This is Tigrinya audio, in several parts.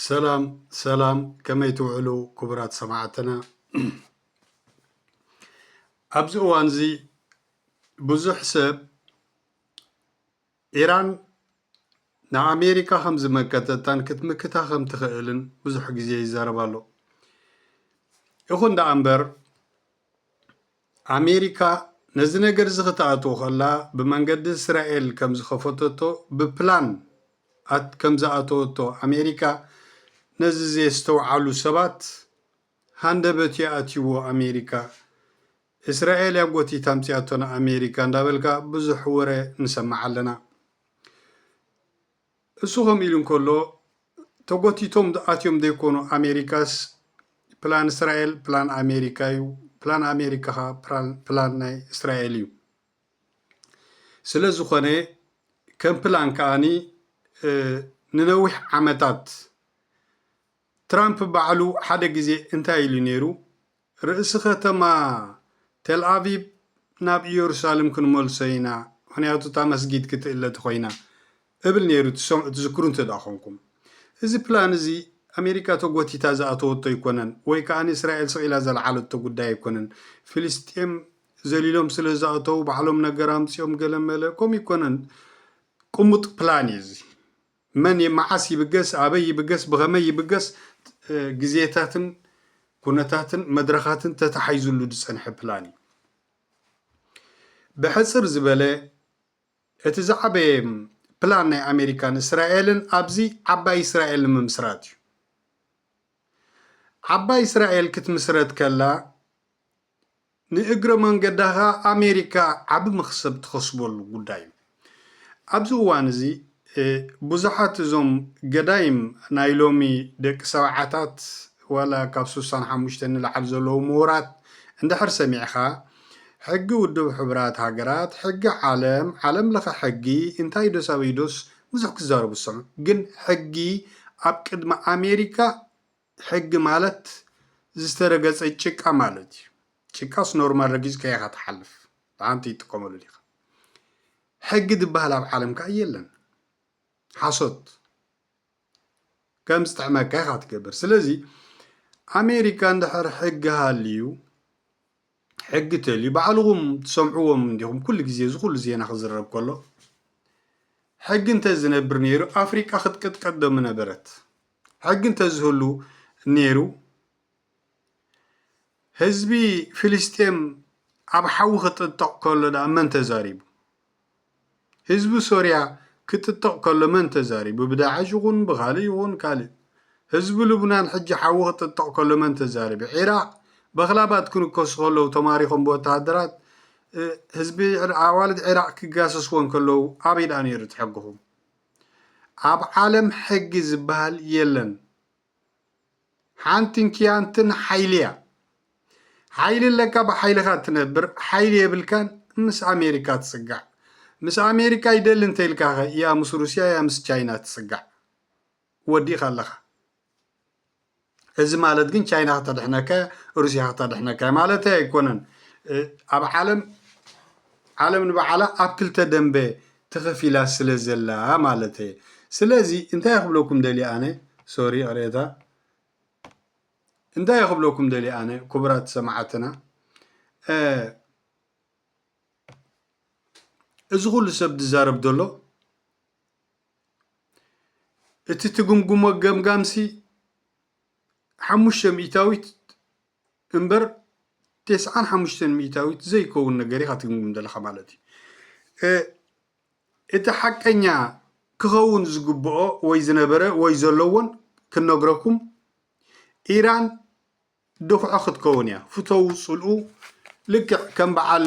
ሰላም ሰላም ከመይ ትውዕሉ ክቡራት ሰማዕትና ኣብዚ እዋን እዚ ብዙሕ ሰብ ኢራን ንኣሜሪካ ከም ዝመከተታን ክትምክታ ከም ትኽእልን ብዙሕ ግዜ ይዛረብ ኣሎ ይኹን ደኣ እምበር ኣሜሪካ ነዚ ነገርዚ ክተኣትዎ ከላ ብመንገዲ እስራኤል ከም ዝኸፈተቶ ብፕላን ኣት ከም ዝኣተወቶ ኣሜሪካ ነዚ ዘየስተውዓሉ ሰባት ሃንደበት እዩ ኣትይዎ ኣሜሪካ እስራኤል እያ ጎቲታ ኣምጺኣቶ ንኣሜሪካ እንዳበልካ ብዙሕ ወረ ንሰምዕ ኣለና። እሱ ከምኡ ኢሉ እንከሎ ተጎቲቶም ኣትዮም ዘይኮኑ ኣሜሪካስ ፕላን እስራኤል ፕላን ኣሜሪካ እዩ ፕላን ኣሜሪካ ከ ፕላን ናይ እስራኤል እዩ ስለ ዝኾነ ከም ፕላን ከኣኒ ንነዊሕ ዓመታት ትራምፕ ባዕሉ ሓደ ግዜ እንታይ ኢሉ ነይሩ? ርእሲ ኸተማ ቴልኣቪቭ ናብ ኢየሩሳሌም ክንመልሶ ኢና፣ ምኽንያቱ እታ መስጊድ ክትእለ ተዀይና እብል ነይሩ ትዝክሩ እንተ ኰንኩም። እዚ ፕላን እዚ ኣሜሪካ ተጐቲታ ዝኣተወቶ ኣይኰነን ወይ ከኣ እስራኤል ስቕ ኢላ ዘልዓለቶ ጕዳይ ኣይኰነን። ፍልስጤም ዘሊሎም ስለ ዝኣተዉ ባዕሎም ነገር ኣምጺኦም ገለ መለ ከምኡ ኣይኰነን፣ ቅሙጥ ፕላን እዩ እዚ። መን የመዓስ ይብገስ፣ ኣበይ ይብገስ፣ ብኸመይ ይብገስ ግዜታትን ኩነታትን መድረኻትን ተታሓሒዙሉ ዝጸንሐ ፕላን እዩ። ብሕጽር ዝበለ እቲ ዝዓበየ ፕላን ናይ ኣሜሪካን እስራኤልን ኣብዚ ዓባይ እስራኤል ንምምስራት እዩ። ዓባይ እስራኤል ክትምስረት ከላ ንእግረ መንገዳ ከኣ ኣሜሪካ ዓቢ መኽሰብ ትኸስበሉ ጉዳይ እዩ። ኣብዚ እዋን እዚ ብዙሓት እዞም ገዳይም ናይ ሎሚ ደቂ ሰብዓታት ዋላ ካብ ስሳን ሓሙሽተን ንላዕሊ ዘለዉ ምሁራት እንድሕር ሰሚዕኻ ሕጊ ውድብ ሕቡራት ሃገራት፣ ሕጊ ዓለም፣ ዓለም ለኸ ሕጊ እንታይ ዶስ ኣበይ ዶስ ብዙሕ ክዛረቡ ትሰምዕ ግን ሕጊ ኣብ ቅድሚ ኣሜሪካ ሕጊ ማለት ዝተረገፀ ጭቃ ማለት እዩ። ጭቃስ ኖርማል ረጊፅካ ኢኻ ትሓልፍ ብሓንቲ ይጥቀመሉ ዲኻ ሕጊ ዝበሃል ኣብ ዓለም ከዓ የለን ሓሶት ከም ዝጥዕመካ ኢኻ ትገብር ስለዚ ኣሜሪካ እንድሕር ሕጊ ሃልዩ ሕጊ ቴሊ ባዕልኹም ትሰምዕዎም እንዲኹም ኩሉ ግዜ እዚ ኩሉ ዜና ክዝረብ ከሎ ሕጊ እንተ ዝነብር ነይሩ ኣፍሪቃ ክትቅጥቀጥ ዶ ምነበረት ሕጊ እንተ ዝህሉ ነይሩ ህዝቢ ፍልስጤም ኣብ ሓዊ ክጥጠቕ ከሎ ደኣ መን ተዛሪቡ ህዝቢ ሶርያ ክጥጥቕ ከሎ መን ተዛሪቡ ብዳዕሽ ይኹን ብኻልእ ይኹን ካልእ ህዝቢ ልቡናን ሕጂ ሓዊ ክጥጥቕ ከሎ መን ተዛሪቡ ዒራቕ በኽላባት ክንከሱ ከለዉ ተማሪኾም ብወተሃደራት ህዝቢ ኣዋልድ ዒራቕ ክጋሰስዎን ከለዉ ኣበይ ድኣ ነይሩ እቲ ሕግኹም ኣብ ዓለም ሕጊ ዝበሃል የለን ሓንትን ኪያንትን ሓይሊ እያ። ሓይሊ ኣለካ ብሓይልኻ ትነብር፣ ሓይሊ የብልካን ምስ ኣሜሪካ ትጽጋዕ። ምስ ኣሜሪካ ይደሊ እንተኢልካ ኸ ያ ምስ ሩስያ ያ ምስ ቻይና ትጽጋዕ ወዲእካ ኣለኻ። እዚ ማለት ግን ቻይና ከተድሕነካ እያ ሩስያ ከተድሕነካ እያ ማለት ኣይኮነን። ኣብ ዓለም ዓለም ንባዕላ ኣብ ክልተ ደንበ ተከፊላ ስለ ዘላ ማለተየ ስለዚ እንታይ ክብለኩም ደልየ ኣነ ሶሪ ይቅሬታ እንታይ ክብለኩም ደልየ ኣነ ክቡራት ሰማዓትና እዚ ኩሉ ሰብ ዝዛረብ ዘሎ እቲ ትግምግሞ ገምጋምሲ ሓሙሽተ ሚእታዊት እምበር ቴስዓን ሓሙሽተን ሚኢታዊት ዘይከውን ነገር ኢኻ ትግምግም ዘለኻ ማለት እዩ። እቲ ሓቀኛ ክኸውን ዝግብኦ ወይ ዝነበረ ወይ ዘለዎን ክንነግረኩም ኢራን ድኹዖ ክትከውን እያ ፍተው ፅልኡ ልክዕ ከም በዓል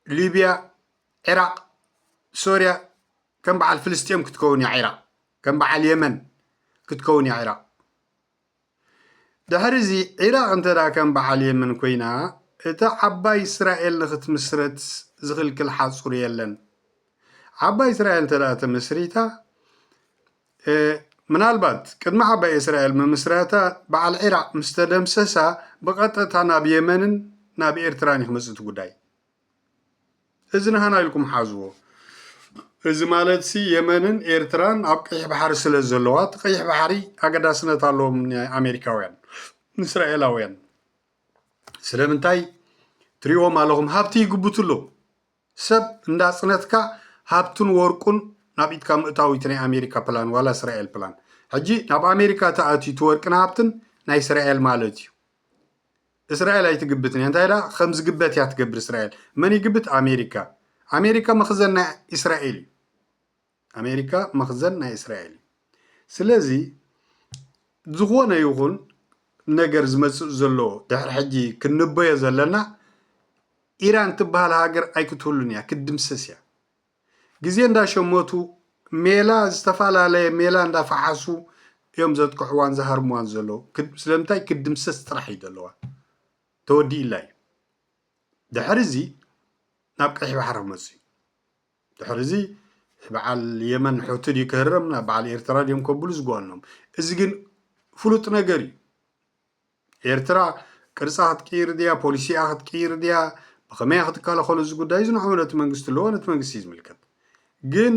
ሊብያ ዒራቅ ሶርያ ከም በዓል ፍልስጤም ክትከውን እያ ዒራቅ ከም በዓል የመን ክትከውን እያ ዒራቅ ድሕሪ እዚ ዒራቅ እንተ ከም በዓል የመን ኮይና እታ ዓባይ እስራኤል ንክትምስረት ዝኽልክል ሓፁር የለን ዓባይ እስራኤል እንተ ተመስሪታ እየ ምናልባት ቅድሚ ዓባይ እስራኤል ምምስራታ በዓል ዒራቅ ምስ ተደምሰሳ ብቀጠታ ናብ የመንን ናብ ኤርትራን እዩ ክመጽእ እቲ ጉዳይ እዚ ንሃና ኢልኩም ሓዝዎ እዚ ማለት ሲ የመንን ኤርትራን ኣብ ቀይሕ ባሕሪ ስለ ዘለዋ እቲ ቀይሕ ባሕሪ ኣገዳስነት ኣለዎም ንኣሜሪካውያን ንእስራኤላውያን ስለምንታይ ትሪእዎም ኣለኹም ሃብቲ ይግብቱ ኣለዉ ሰብ እንዳጽነትካ ሃብቱን ወርቁን ናብ ኢድካ ምእታው እዩ ናይ ኣሜሪካ ፕላን ዋላ እስራኤል ፕላን ሕጂ ናብ ኣሜሪካ ተኣትዩ እቲ ወርቅን ሃብትን ናይ እስራኤል ማለት እዩ እስራኤል ኣይትግብትን እያ እንታይ ደኣ ከም ዝግበት እያ ትገብር እስራኤል መን ይግብት ኣሜሪካ ኣሜሪካ መኽዘን ናይ እስራኤል እዩ ኣሜሪካ መኽዘን ናይ እስራኤል እዩ። ስለዚ ዝኾነ ይኹን ነገር ዝመጽእ ዘሎ ድሕሪ ሕጂ ክንበዮ ዘለና ኢራን ትበሃል ሃገር ኣይክትህሉን እያ ክትድምሰስ እያ ግዜ እንዳሸመቱ ሜላ ዝተፈላለየ ሜላ እንዳፈሓሱ እዮም ዘጥቅዕዋን ዝሃርምዋን ዘለዉ ስለምንታይ ክድምሰስ ጥራሕ እዩ ዘለዋ ተወዲእላ እዩ ድሕሪ እዚ ናብ ቀይሕ ባሕሪ ክመፅእ እዩ ድሕሪ እዚ ብዓል የመን ሑቲ ድዩ ክህረም ናብ ብዓል ኤርትራ ድዮም ከብሉ ዝጓኖም እዚ ግን ፍሉጥ ነገር እዩ ኤርትራ ቅርጻ ክትቅይር ድያ ፖሊሲኣ ክትቅይር ድያ ብኸመያ ክትከላኸሎ እዚ ጉዳይ እዚ ንሕሙ ነቲ መንግስቲ ኣለዎ ነቲ መንግስቲ እዩ ዝምልከት ግን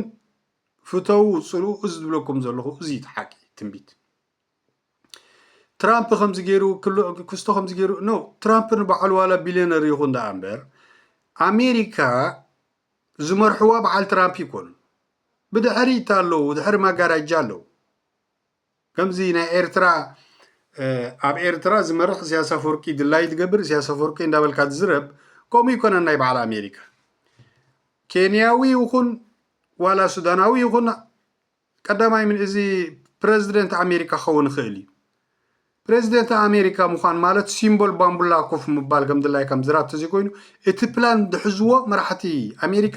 ፍተው ጽልኡ እዚ ዝብለኩም ዘለኹ እዚ እቲ ሓቂ ትንቢት ትራምፕ ከምዚ ገይሩ ክስቶ ከምዚ ገይሩ ኖ ትራምፕ ንበዓሉ ዋላ ቢልዮነር ይኹን ደኣ እምበር ኣሜሪካ ዝመርሕዋ በዓል ትራምፕ ይኮኑ ብድሕሪት ኣለዉ ድሕሪ ማጋራጃ ኣለዉ ከምዚ ናይ ኤርትራ ኣብ ኤርትራ ዝመርሕ እሲያስ ኣፈወርቂ ድላይ ትገብር እሲያስ ኣፈወርቂ እንዳበልካ ትዝረብ ከምኡ ይኮነን ናይ በዓል ኣሜሪካ ኬንያዊ ይኹን ዋላ ሱዳናዊ ይኹን ቀዳማይ ምንእዚ ፕረዚደንት ኣሜሪካ ክኸውን ይኽእል እዩ። ፕረዚደንት ኣሜሪካ ምዃን ማለት ሲምቦል ባምቡላ ኮፍ ምባል ከም ድላይ ከም ዝራብ ተዘይኮይኑ እቲ ፕላን ዝሕዝዎ መራሕቲ ኣሜሪካ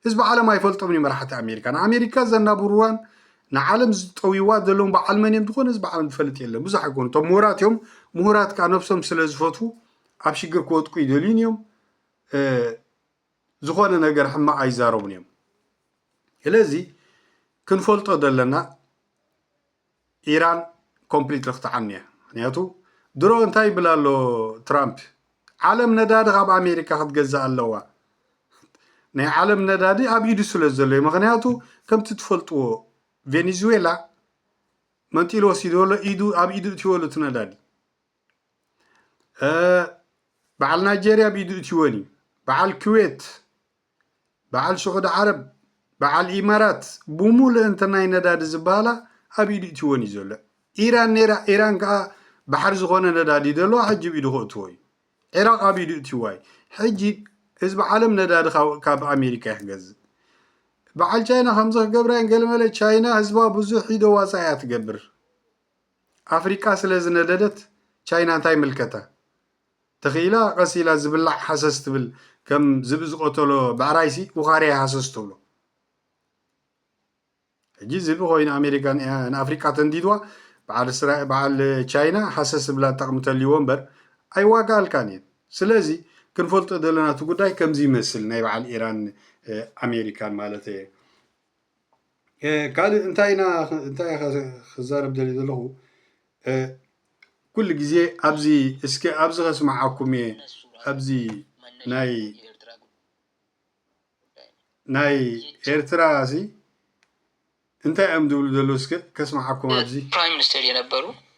ህዝቢ ዓለም ኣይፈልጦምን እዩ መራሕቲ ኣሜሪካ ንኣሜሪካ ዘናብርዋን ንዓለም ዝጠውይዋ ዘለዎም በዓል መን እዮም ዝኾነ ህዝቢ ዓለም ዝፈልጥ የለን ብዙሕ ኣይኮኑ እቶም ምሁራት እዮም ምሁራት ከዓ ነብሶም ስለ ዝፈትዉ ኣብ ሽግር ክወጥቁ ይደልዩን እዮም ዝኾነ ነገር ሕማቅ ኣይዛረቡን እዮም ስለዚ ክንፈልጦ ዘለና ኢራን ኮምፕሊት ክትዓኑ እያ ምክንያቱ ድሮ እንታይ ይብል ኣሎ ትራምፕ ዓለም ነዳዲ ካብ ኣሜሪካ ክትገዛእ ኣለዋ ናይ ዓለም ነዳዲ ኣብ ኢዱ ስለ ዘሎ እዩ ምክንያቱ ከምቲ ትፈልጥዎ ቬኔዙዌላ መንጢሉ ወሲድዎሎ ኢዱ ኣብ ኢዱ እትወሉ እቲ ነዳዲ በዓል ናይጀርያ ብኢዱ እትወን እዩ በዓል ክዌት በዓል ስዑድ ዓረብ በዓል ኢማራት ብሙሉእ እንተ ናይ ነዳዲ ዝበሃላ ኣብ ኢዱ እትወን እዩ ዘሎ ኢራን ነራ ኢራን ከዓ ባሕሪ ዝኾነ ነዳዲ እዩ ዘለዎ ሕጂ ብኢዱ ክእትዎ እዩ ዒራቅ ኣብ ኢዱ እትዋ እዩ ሕጂ ህዝቢ ዓለም ነዳዲ ካብ ኣሜሪካ እዩ ክገዝእ በዓል ቻይና ከምዚ ክገብራ እየን ገለመለ ቻይና ህዝባ ብዙሕ ኢዶ ዋፃ እያ ትገብር ኣፍሪቃ ስለ ዝነደደት ቻይና እንታይ ይምልከታ ተኽ ኢላ ቀስ ኢላ ዝብላዕ ሃሰስ ትብል ከም ዝብኢ ዝቐተሎ ብዕራይሲ ውኻርያ ሃሰስ ትብሎ ሕጂ ዝብኢ ኮይኑ ኣሜሪካ ንኣፍሪቃ ተንዲድዋ በዓል ቻይና ሃሰስ ዝብላ ጠቕሚ ተልይዎ እምበር ኣይዋጋኣልካን እየን ስለዚ ክንፈልጦ ዘለና እቲ ጉዳይ ከምዚ ይመስል ናይ በዓል ኢራን ኣሜሪካን ማለት እየ ካልእ እንታይ ኢና እንታይ ክዛረብ ደልየ ዘለኹ ኩሉ ግዜ ኣብዚ እስከ ኣብዚ ከስምዓኩም እየ ኣብዚ ናይ ናይ ኤርትራ እዚ እንታይ እዮም ዝብሉ ዘለዉ እስከ ከስምዓኩም ኣብዚ ፕራይም ሚኒስተር የነበሩ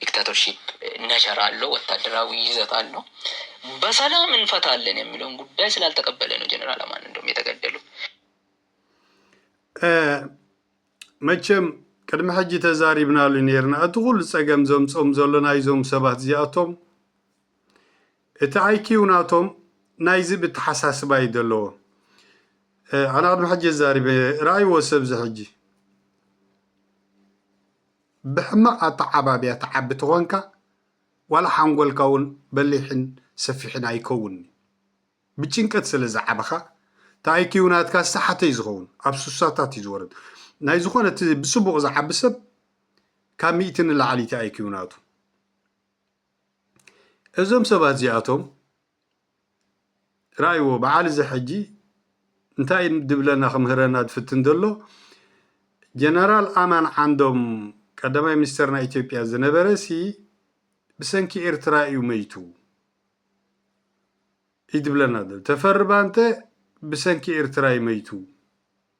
ዲክታቶርሺፕ ነቸር አለው ወታደራዊ ይዘት አለው በሰላም እንፈታለን የሚለውን ጉዳይ ስላልተቀበለ ነው ጀነራል አማን እንደውም የተገደሉት። መቸም ቅድሚ ሕጂ ተዛሪብናሉ ነርና እቲ ኩሉ ጸገም ዘምጾም ዘሎ ናይዞም ሰባት እዚኣቶም እቲ ኣይኪው ናቶም ናይዚ ብተሓሳስባ እዩ ዘለዎ ኣነ ቅድሚ ሕጂ ዛሪበ ረኣይዎ ሰብዚ ሕጂ ብሕማቅ ኣተዓባብያ ትዓቢ ተኾንካ ዋላ ሓንጎልካ ውን በሊሕን ሰፊሕን ኣይከውንን'ዩ። ብጭንቀት ስለ ዝዓበኻ እቲ ኣይኪው ናትካ ዝተሓተ ዩ ዝኸውን ኣብ ሱሳታት ዩ ዝወርድ። ናይ ዝኾነ እቲ ብጽቡቅ ዝዓቢ ሰብ ካብ ሚእቲ ንላዕሊ'ዩ እቲ ኣይኪው ናቱ። እዞም ሰባት እዚኣቶም ራኣይዎ በዓል እዚ ሕጂ እንታይ ድብለና ክምህረና ድፍትን ደሎ ጀነራል ኣማን ዓንዶም ቀዳማይ ሚኒስተር ናይ ኢትዮጵያ ዝነበረ ሲ ብሰንኪ ኤርትራ እዩ መይቱ እዩ ድብለና ደሎ ተፈሪ ባንተ ብሰንኪ ኤርትራ እዩ መይቱ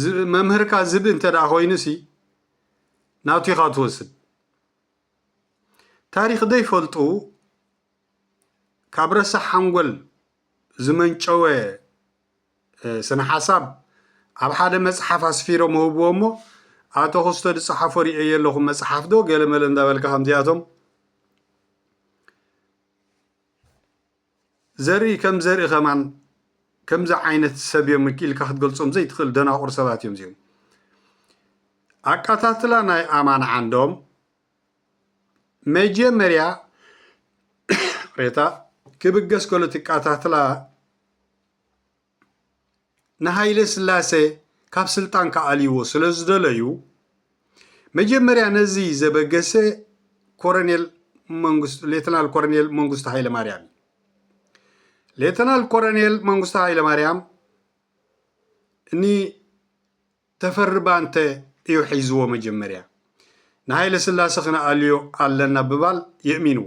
ዝብኢ መምህርካ ዝብኢ እንተ ኮይኑሲ ናቱ ኢኻ ትወስድ ታሪኽ ዘይፈልጡ ካብ ረሳሕ ሓንጎል ዝመንጨወ ስነ ሓሳብ ኣብ ሓደ መፅሓፍ ኣስፊሮም ህብዎ እሞ ኣቶ ክስቶ ዝፀሓፎ ርእየዮ ኣለኹ መፅሓፍ ዶ ገለመለ እንዳበልካ ከምዚኣቶም ዘርኢ ከም ዘርኢ ከማን ከምዚ ዓይነት ሰብ እዮም እኪ ኢልካ ክትገልጾም ዘይትኽእል ደናቑር ሰባት እዮም እዚኦም። ኣቀታትላ ናይ ኣማን ዓንዶም መጀመርያ ሬታ ክብገስ ከሎ ትቀታትላ ንሃይለስላሰ ካብ ስልጣን ክኣልይዎ ስለዝደለዩ መጀመርያ ነዚ ዘበገሰ ኮረኔል መንግስቱ ሌተናል ኮረኔል መንግስቱ ሃይለማርያም እዩ። ሌተናል ኮረኔል መንግስቱ ሃይለማርያም ንተፈሪ ባንተ እዩ ሒዝዎ መጀመርያ ንሃይለ ስላሰ ክንኣልዮ ኣለና ብባል የእሚንዎ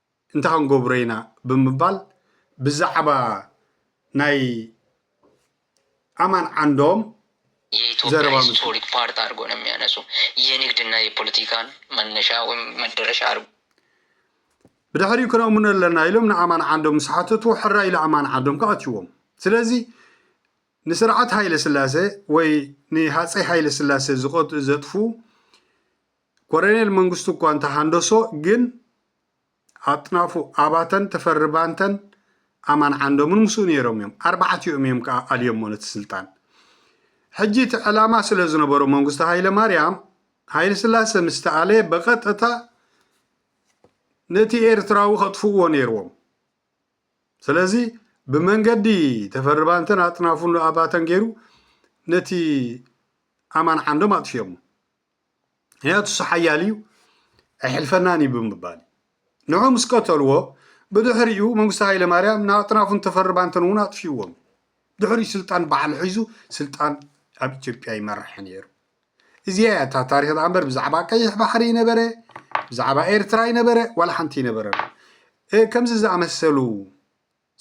እንታይ ክንገብሮ ኢና ብምባል ብዛዕባ ናይ ኣማን ዓንዶም ዘረባ የኢትዮጵያ መሲሉ። ሂስቶሪክ ፓርት አድርጎ ነው የሚያነሱ የንግድ እና የፖለቲካን መነሻ ወይም መደረሻ አድርጎ። ብድሕሪኡ ክነእምኖ ኣለና ኢሎም ንኣማን ዓንዶም ምስ ሓተትዎ ሕራይ ኢሉ ኣማን ዓንዶም ከ ኣትይዎም ስለዚ ንስርዓት ሃይለስላሰ ወይ ንሃፀይ ሃይለስላሰ ዝቐት ዘጥፉ ኮረኔል መንግስቱ እኳ እንተሃንደሶ ግን ኣጥናፉ ኣባተን ተፈሪ ባንተን ኣማን ዓንዶምን ምስኡ ነይሮም እዮም። ኣርባዕቲኦም እዮም ከኣ ኣልዮሞ ነቲ ስልጣን። ሕጂ እቲ ዕላማ ስለ ዝነበሮ መንግስቱ ሃይለማርያም ሃይለስላሰ ምስ ተኣለየ ብቐጥታ ነቲ ኤርትራዊ ከጥፍእዎ ነይርዎም። ስለዚ ብመንገዲ ተፈሪ ባንተን ኣጥናፉ ኣባተን ገይሩ ነቲ ኣማን ዓንዶም ኣጥፊኦሞ። ምክንያቱ እሱ ሓያል እዩ ኣይሕልፈናን እዩ ብምባል እዩ ንዑ ምስ ቀተልዎ ብድሕሪኡ መንግስቲ ሃይለማርያም ንኣጥናፉን ተፈርባንተን እውን ኣጥፊዎም ድሕሪ ስልጣን በዓል ሒዙ ስልጣን ኣብ ኢትዮጵያ ይመርሐ ነይሩ እዚኣ እያ እታ ታሪክ ዳኣ እምበር ብዛዕባ ቀይሕ ባሕሪ ይነበረ ብዛዕባ ኤርትራ ይነበረ ዋላ ሓንቲ ይነበረ ከምዚ ዝኣመሰሉ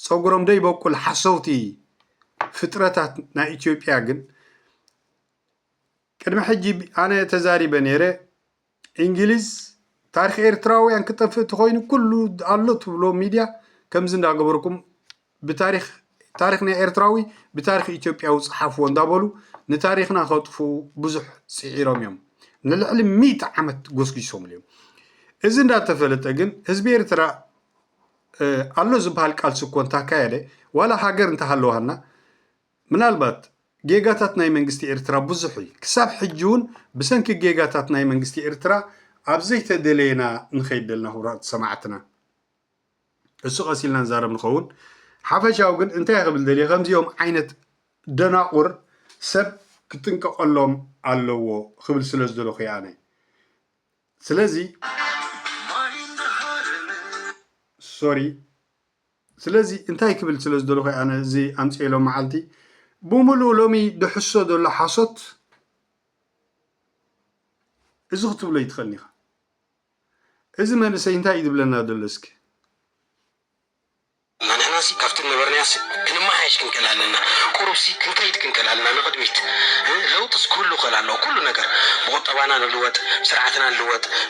ፀጉሮም ደይበቁል ሓሰውቲ ፍጥረታት ናይ ኢትዮጵያ ግን ቅድሚ ሕጂ ኣነ ተዛሪበ ኔረ ኢንግሊዝ ታሪኽ ኤርትራውያን ክጠፍእ ተኾይኑ ኩሉ ኣሎ ትብሎ ሚድያ ከምዚ እንዳገበርኩም ብታሪኽ ታሪኽ ናይ ኤርትራዊ ብታሪኽ ኢትዮጵያዊ ጽሓፍዎ እንዳበሉ ንታሪኽና ከጥፍኡ ብዙሕ ጽዒሮም እዮም ንልዕሊ ሚእቲ ዓመት ጎስጒሶምሉ እዮም እዚ እንዳተፈለጠ ግን ህዝቢ ኤርትራ ኣሎ ዝበሃል ቃልሲ እኮ እንታካየደ ዋላ ሃገር እንተሃለዋና ምናልባት ጌጋታት ናይ መንግስቲ ኤርትራ ብዙሕ እዪ ክሳብ ሕጂ ውን ብሰንኪ ጌጋታት ናይ መንግስቲ ኤርትራ ኣብ ዘይተደለየ ኢና ንኸይድ ደልና ክቡራት ሰማዕትና እሱ ቀስ ኢልና ንዛረብ ንኸውን ሓፈሻዊ ግን እንታይ ክብል ደልየ ከምዚኦም ዓይነት ደናቑር ሰብ ክጥንቀቐሎም ኣለዎ ክብል ስለ ዝደለኹ እየ ኣነ ስለዚ ሶሪ ስለዚ እንታይ ክብል ስለ ዝደለኹ እየ ኣነ እዚ ኣምፅኤ ሎም መዓልቲ ብምሉኡ ሎሚ ድሕሶ ዘሎ ሓሶት እዚ ክትብሎ ይትኽእል ኢኻ እዚ መንእሰይ እንታይ እዩ ዝብለና ዘሎ እስኪ ንሕናሲ ካብቲ ነበርናያስ ክንመሓየሽ ክንክእል ኣለና ቁሩብሲ ክንከይድ ክንክእል ኣለና ንቕድሚት ለውጥስ ክህሉ ክእል ኣለዎ ኩሉ ነገር ብቑጠባና ንልወጥ ብስርዓትና ንልወጥ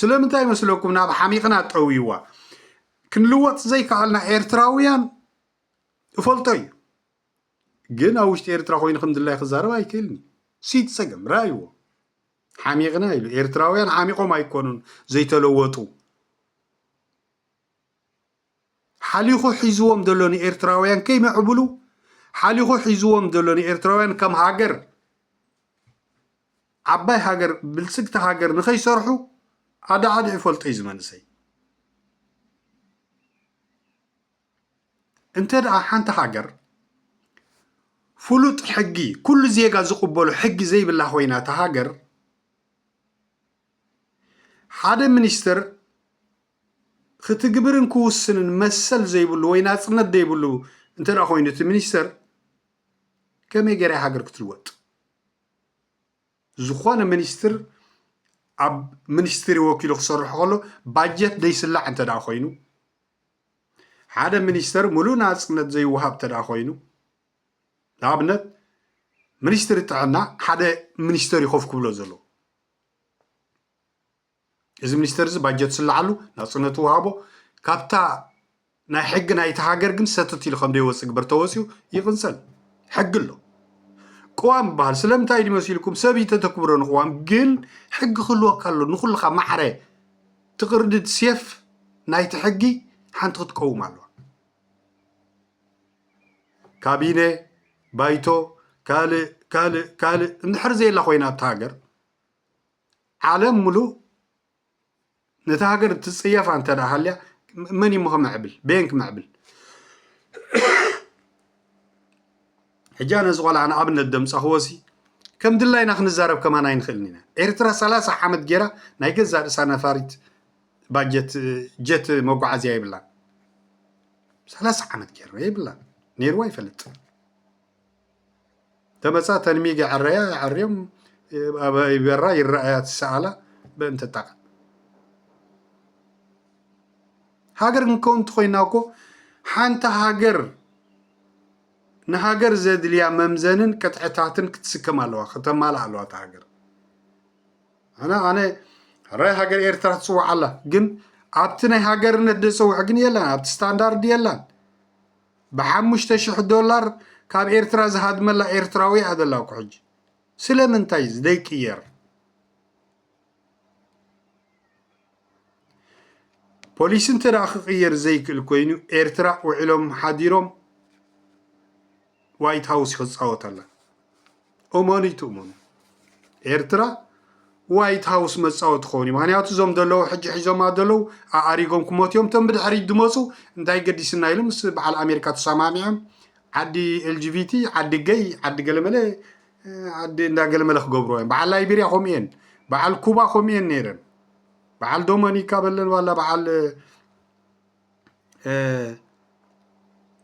ስለምንታይ ይመስለኩም ናብ ሓሚቕና ጠውይዋ ክንልወጥ ዘይከኣልና ኤርትራውያን እፈልጦ እዩ ግን ኣብ ውሽጢ ኤርትራ ኮይኑ ከም ድላይ ክዛረብ ኣይክእልኒ ሲት ፀገም ራይዎ ሓሚቕና ኢሉ ኤርትራውያን ሓሚቖም ኣይኮኑን ዘይተለወጡ ሓሊኹ ሒዝዎም ዘሎ ንኤርትራውያን ከይምዕብሉ ሓሊኹ ሒዝዎም ዘሎ ንኤርትራውያን ከም ሃገር ዓባይ ሃገር ብልጽግቲ ሃገር ንኸይሰርሑ ኣዳዓዲ ይፈልጦ እዩ ዝመንእሰይ እንተ ደኣ ሓንቲ ሃገር ፍሉጥ ሕጊ ኩሉ ዜጋ ዝቕበሎ ሕጊ ዘይብላ ኮይና እታ ሃገር ሓደ ሚኒስትር ክትግብርን ክውስንን መሰል ዘይብሉ ወይ ናጽነት ዘይብሉ እንተ ኮይኑ እቲ ሚኒስተር ከመይ ገይራ ሃገር ክትልወጥ? ዝኾነ ሚኒስትር ኣብ ሚኒስትሪ ወኪሉ ክሰርሖ ከሎ ባጀት ዘይስላዕ እንተ ኮይኑ ሓደ ሚኒስተር ሙሉእ ናፅነት ዘይወሃብ እንተ ኮይኑ ንኣብነት ሚኒስትሪ ጥዕና ሓደ ሚኒስተር እዩ ኮፍ ክብሎ ዘለዎ እዚ ሚኒስተር እዚ ባጀት ዝስልዓሉ ናጽነቱ ወሃቦ ካብታ ናይ ሕጊ ናይቲ ሃገር ግን ሰትት ኢሉ ከም ዘይወጽእ ግበር ተወጽኡ ይቕንጸል ሕጊ ኣሎ ቅዋም ይበሃል ስለምንታይ ድዩ መሲልኩም ሰብ ይተተክብሮ ንቅዋም ግን ሕጊ ክህልወካ ኣሎ ንኩልካ ማዕረ ትቅርድድ ሴፍ ናይቲ ሕጊ ሓንቲ ክትቀውም ኣለዋ ካቢነ ባይቶ ካልእ ካልእ ካልእ እንድሕር ዘየላ ኮይና ኣብቲ ሃገር ዓለም ምሉእ ነታ ሃገር ትጽየፋ እንተ ደኣ ሃልያ መን እዩ እሞ ክምዕብል በየን ክምዕብል ሕጂ ኣነ እዚ ቆልዓ ንኣብነት ደምጻኽዎሲ ከም ድላይና ክንዛረብ ከማን ኣይንኽእልን ኢና ኤርትራ ሰላሳ ዓመት ጌራ ናይ ገዛ ርእሳ ነፋሪት ባጀት ጀት መጓዓዝያ የብላን ሰላሳ ዓመት ጌርና የብላን ነይርዋ ይፈልጥ ተመፃ ተንሚግ የዐረያ የዐርዮም ይበራ ይረኣያ ትሰኣላ በእንተ ጣዕ ሃገር ክንከውን እንተኮይና እኮ ሓንቲ ሃገር ንሃገር ዘድልያ መምዘንን ቅጥዕታትን ክትስከም ኣለዋ ከተማልእ ኣለዋ እቲ ሃገር ኣነ ኣነ ራይ ሃገር ኤርትራ ትፅዋዕ ኣላ ግን ኣብቲ ናይ ሃገርነት ደፀውዕ ግን የላን ኣብቲ ስታንዳርድ የላን ብሓሙሽተ ሽሕ ዶላር ካብ ኤርትራ ዝሃድመላ ኤርትራዊ እያ ዘላ እኮ ሕጂ ስለምንታይ ዘይቅየር ፖሊሲ እንተ ክቅየር ዘይክእል ኮይኑ ኤርትራ ውዒሎም ሓዲሮም ዋይት ሃውስ ክፃወተላ እመኑይ ትእመኑ ኤርትራ ዋይት ሃውስ መፃወቲ ክኸውን እዩ ምክንያቱ እዞም ዘለዉ ሕጂ ሒዞማ ዘለዉ ኣኣሪጎም ክመቱ እዮም እቶም ብድሕሪት ዝመፁ እንታይ ገዲስና ኢሉ ምስ በዓል ኣሜሪካ ተሰማሚዖም ዓዲ ኤልጂቢቲ ዓዲ ገይ ዓዲ ገለመለ ዓዲ እንዳገለመለ ክገብርዎ እዮም በዓል ላይቤሪያ ከምኡ እየን በዓል ኩባ ከምኡ እየን ነይረን በዓል ዶመኒካ በለን ዋላ በዓል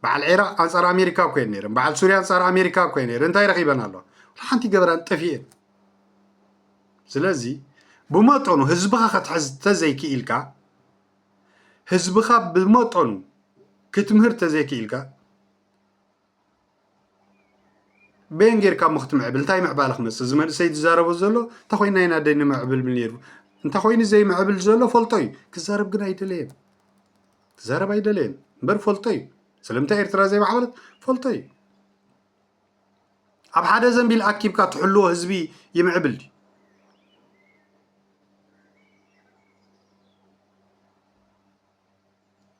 በዓል ዒራቅ ኣንፃር ኣሜሪካ ኮይን ነይረን በዓል ሱርያ ኣንፃር ኣሜሪካ ኮይን ነይረን እንታይ ረኺበን ኣለዋ ሓንቲ ገበራን ጠፊኤን ስለዚ ብመጠኑ ህዝብኻ ከትሕዝ ተዘይክኢልካ ህዝብኻ ብመጠኑ ክትምህር ተዘይክኢልካ በየን ጌርካ እሞ ክትምዕብል እንታይ ምዕባለ ክመፅእ እዚ መንእሰይ ዝዛረቦ ዘሎ እንተኮይና ኢና ደ ንምዕብል ነይሩ እንተኮይኑ ዘይምዕብል ዘሎ ፈልጦ እዩ ክዛረብ ግን ኣይደለየን ክዛረብ ኣይደለየን እምበር ፈልጦ እዩ ስለምንታይ ኤርትራ ዘይማዕበለት ፈልጦ እዩ ኣብ ሓደ ዘንቢል ኣኪብካ ትሕልዎ ህዝቢ ይምዕብል ድዩ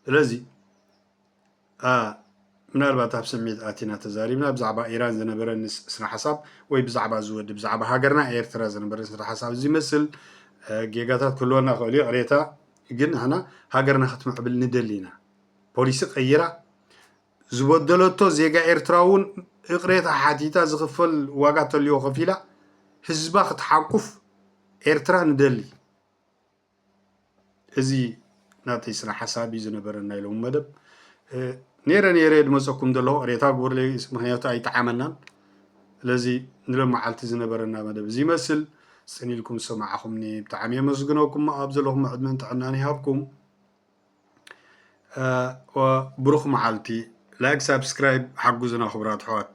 ስለዚ ምናልባት ኣብ ስምዒት ኣቲና ተዛሪብና ብዛዕባ ኢራን ዝነበረ ስነ ሓሳብ ወይ ብዛዕባ እዚ ወዲ ብዛዕባ ሃገርና ኤርትራ ዝነበረ ስነ ሓሳብ ዝመስል ጌጋታት ክህልወና ክእል እዩ ቅሬታ ግን ንሕና ሃገርና ክትምዕብል ንደሊ ኢና ፖሊሲ ቀይራ ዝበደለቶ ዜጋ ኤርትራ እውን እቅሬታ ሓቲታ ዝኽፈል ዋጋ ተልዮ ከፊላ ህዝባ ክትሓቁፍ ኤርትራ ንደሊ እዚ ናተይ ስነ ሓሳብ እዩ ዝነበረ ናይ ሎሚ መደብ ነይረ ነይረ ድመፀኩም ዘሎ ቅሬታ ግበሩለይ ምክንያቱ ኣይጠዓመናን ስለዚ ንሎም መዓልቲ ዝነበረና መደብ እዚ ይመስል ፅን ኢልኩም ዝሰማዕኹምኒ ብጣዕሚ የመስግነኩም ኣብ ዘለኹም ዕድመን ጥዕናን ይሃብኩም ብሩኽ መዓልቲ ላይክ ሳብስክራይብ ሓጉዝና ክቡራት ኣሕዋት